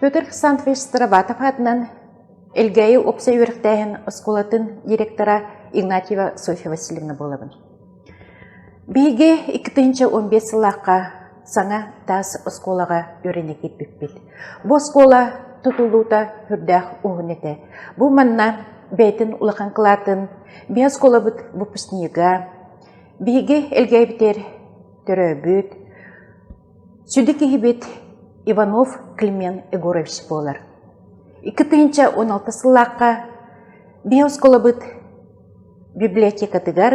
Петр Александрович Старобатов атынан Элгээйи опса үөрэхтээһин оскуолатын директора Игнатьева Софья Васильевна буолабын. Биһиги икки тыһыынча уон биэс сыллаахха саҥа таас оскуолаҕа үөрэнэ киирбиппит. Бу оскуола тутуллуута сүрдээх уһун этэ. Бу манна бэйэтин улахан кылаатын, биһи оскуолабыт выпускнига, биһиги элгээбитэр төрөөбүт, сүдү киһибит Иванов Климент Егорович буолар. Икки тыһыынча уон алта сыллаахха биһи оскуолабыт Библиотекатыгар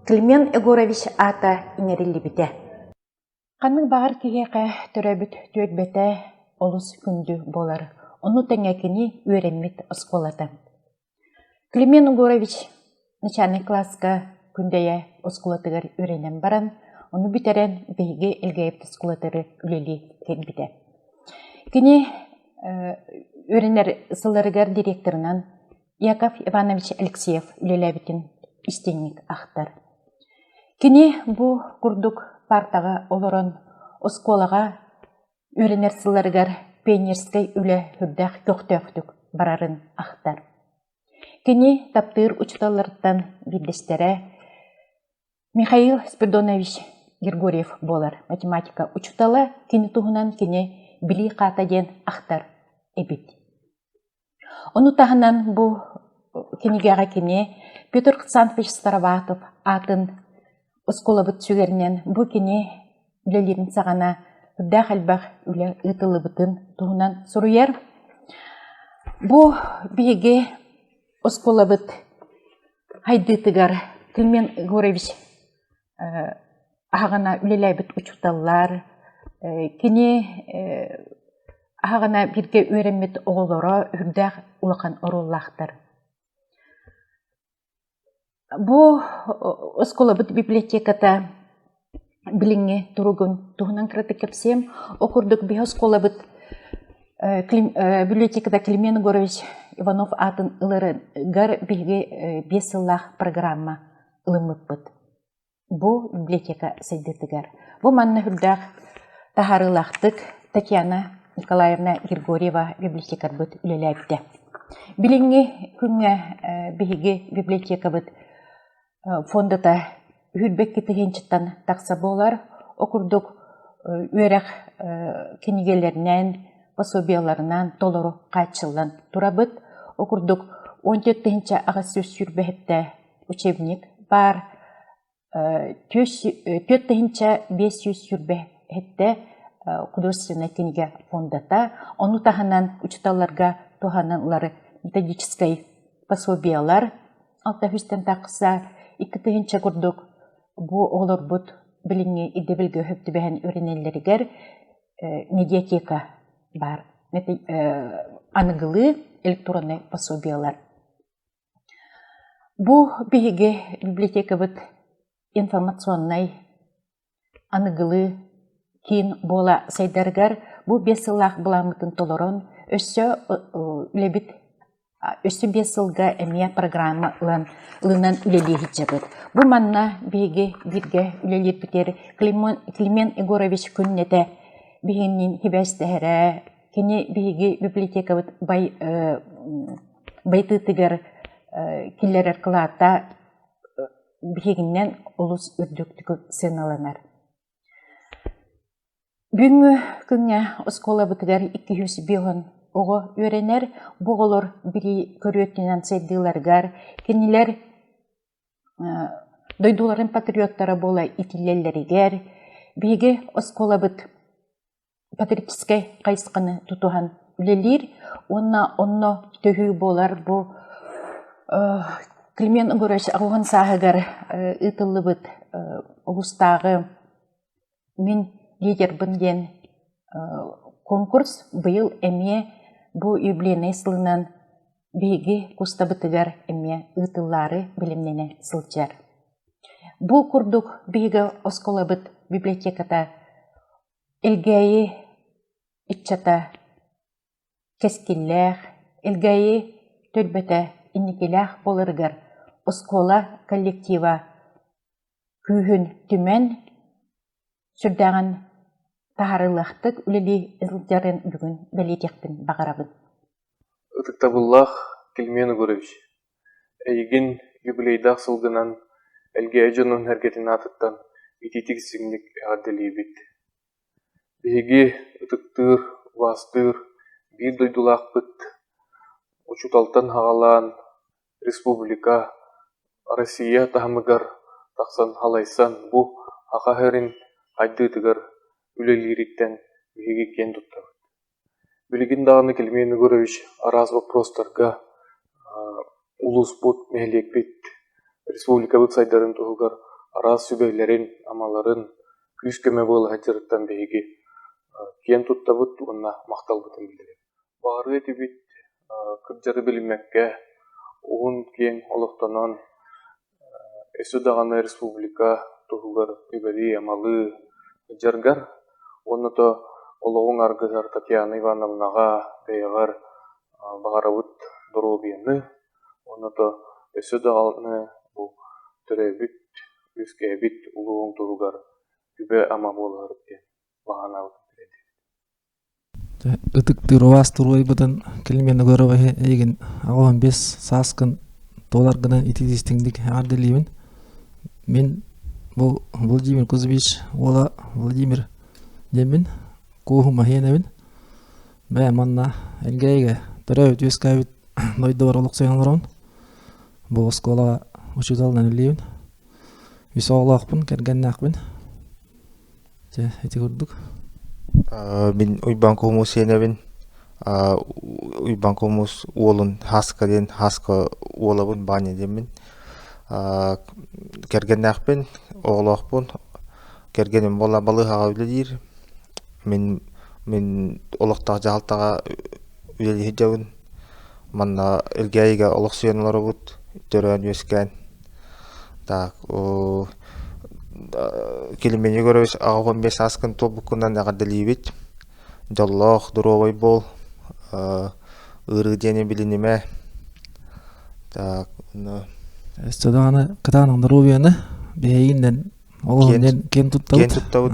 Климент Егорович аата иҥэриллибитэ. Ханнык баҕар киһиэхэ төрөөбүт түөлбэтэ олус күндү буолар. Ону тэҥэ кини үөрэммит оскуолата. Климент Егорович начальнай кылааска Күндэйэ оскуолатыгар үөрэнэн баран, ону бүтэрэн биһиги Элгээйипт оскуолатыгар үлэлии кэлбитэ. Кини үөрэнэр сылларыгар директорынан Яков Иванович Алексеев үлэлээбитин истиҥник ахтар. Кини бу курдук партаҕа олорон оскуолаҕа үөрэнэр сылларыгар пионерскай үлэ сүрдээх көхтөөхтүк барарын ахтар. Кини таптыыр учууталларыттан биирдэстэрэ Михаил Спирдонович Григорьев буолар математика учуутала кини туһунан кини билии хаата диэн ахтар эбит. Ону таһынан бу кинигэҕэ кини Петр Александрович Староватов аатын оскуолабыт сүгэринэн бу кини үлэлиирин саҕана үрдээх элбэх үлэ ыытыллыбытын туһунан суруйар. Бу биһиги оскуолабыт хайдыытыгар Климент Егорович аһаҕана үлэлээбит учууталлар кини аһаҕана бииргэ үөрэммит оҕолоро үрдээх улахан оруоллаахтар бу оскуолабыт библиотеката билиҥҥи туругун туһунан кыратык кэпсиэм ол курдук биһи оскуолабыт библиотекада климент егорович иванов аатын ыларыгар биһиги биэс сыллаах программа ылыммыппыт. Бу библиотека сайдыытыгар. Бу манна үрдээх таһаарыылаахтык Татьяна Николаевна Григорьева библиотекарбыт үлэлээбитэ. Билиҥҥи күҥҥэ биһиги библиотекабыт фондата үүрбэкки тыһыынчаттан тахса буолар. Ол курдук үөрэх кинигэлэринээн, пособиеларынан толору хааччыллан турабыт. Ол курдук 17 тыһыынча аҕыс сүүс сүүрбэһиттэ учебник баар түөрт тыһыынча биэс сүүс сүүрбэ сэттэ художественнай кинигэ фондата ону таһынан учууталларга туһаныллар методическай пособиелар алта үстэн тахса икки тыһыынча курдук бу оҕолорбут билиҥҥи ирдэбилгэ өһөп түбэһэн үөрэнэллэригэр медиатека баар аныгылыы электроннай пособиелар Бу биһиги библиотекабыт информационнай аныгылыы киин буола сайдарыгар бу биэс сыллаах былааммытын толорон өссө үлэбит өссө биэс сылга эмиэ программа ылан ылынан үлэлии сылдьабыт. Бу манна биһиги бииргэ үлэлиирбитигэр Климент Егорович күннэтэ биһигинниин сибээстэһэрэ, кини биһиги библиотекабыт бай Байтыытыгар киллэрэр кылаата биһигиннэн олус үрдүктүк сыаналанар. Бүгүҥҥү күҥҥэ оскуолабытыгар икки жүз биэһон оҕо үөрэнэр. Бу оҕолор билии көрүөтүнэн сайдыыларыгар кинилэр дойдуларын патриоттара буола итиллэллэригэр биһиги оскуолабыт патрическай хайысханы тутуһан үлэлиир уонна онно төһүү буолар бу Климент Егорович аҕуһун сааһыгар ыытыллыбыт улуустааҕы мин лидербын диэн конкурс быйыл эмиэ бу юбилейнай сылынан биһиги кустабытыгар эмиэ ыытыллаары бэлэмнэнэ сылдьар бу курдук биһиги оскуолабыт библиотеката Илгээйи ыччата кэскиллээх, Илгээйи түөлбэтэ инникилээх буоларыгар оскуола коллектива күүһүн түмэн, сүрдээҕин таһаарыылаахтык үлэлии сылдьарын бүгүн бэлиэтиэхпин баҕарабын. Ытыктабыллаах Кильмен Егорович! Эйигин юбилейдаах сылгынан, Элгээй дьонун эргэтин аатыттан итиитик симник эҕэрдэлиибит! Биһиги ытыктыыр, убаастыыр биир дойдулаахпыт, учууталтан аҕалаан, республика, Россия таһымыгар тахсан халайсан бу аха эһэрин хайдыытыгар үлэлиириттэн биһиги киэн туттабыт Билигин даҕаны Килимиэн Егорович араас боппуруостарга улууспут, нэһилиэкпит, республикабыт сайдарын туһугар араас сүбэлэрин-амаларын күүс-көмө буола сылдьарыттан биһиги киэн туттабыт уонна махталбытын биллэбит. Баарыы этибит, кырдьары билиммэккэ, уһун-киэҥ олохтонон Өссө даҕаны республика туһугар үбэлии-амалыы сылдьаргар уонна то олоҕуҥ аргыһар Татьяна Ивановнаҕа бэйэҕэр баҕарабыт доруобуйаны уонна то өссө даҕаны бу төрөөбүт үөскээбит улууҥ туһугар үбэ-ама буоларыт диэн баҕанаабытын бэлиэтиир Ытыктыыр убаастыырбытын Кэлим Виногуроваһы эйигин аҕа уон биэс сааскын туолар гынан итии-истиҥник эҕэр дэлиибин. Мин бу Владимир Кузьмич уола Владимир диэммин кууһум аһыанабын. Бээ манна эргээйигэ төрөөбүт үөскээбит дойдубар олохсуйан олоробун. Бу оскуолаҕа учууталынан үлэлиибин. Үс оҕолоохпун, кэргэннээхпин. Чэ, ити курдук. Мин Уйбаан Кумус сиэнэбин. Уйбаан Кумус уолун Хаска диэн Хаска уолабын Баня диэммин. Кэргэннээхпин, оҕолоохпун. Кэргэним буола балыыһаҕа үлэлиир. Мин мин олохтоох дьаһалтаҕа үлэлии сылдьабын. Манна илгээйигэ олохсуйан олоробут, төрөөн-үөскээн. Так оо Килимини Егорович аҕа уон биэс сааскын туолбуккунан эҕэрдэлиибит. Дьоллоох, доруобай буол. ыарыы диэни билинимэ. Так эссе даҕаны кытаанах доруобуйаны биһиги диэн ол киэн туттабыт. Киэн туттабыт.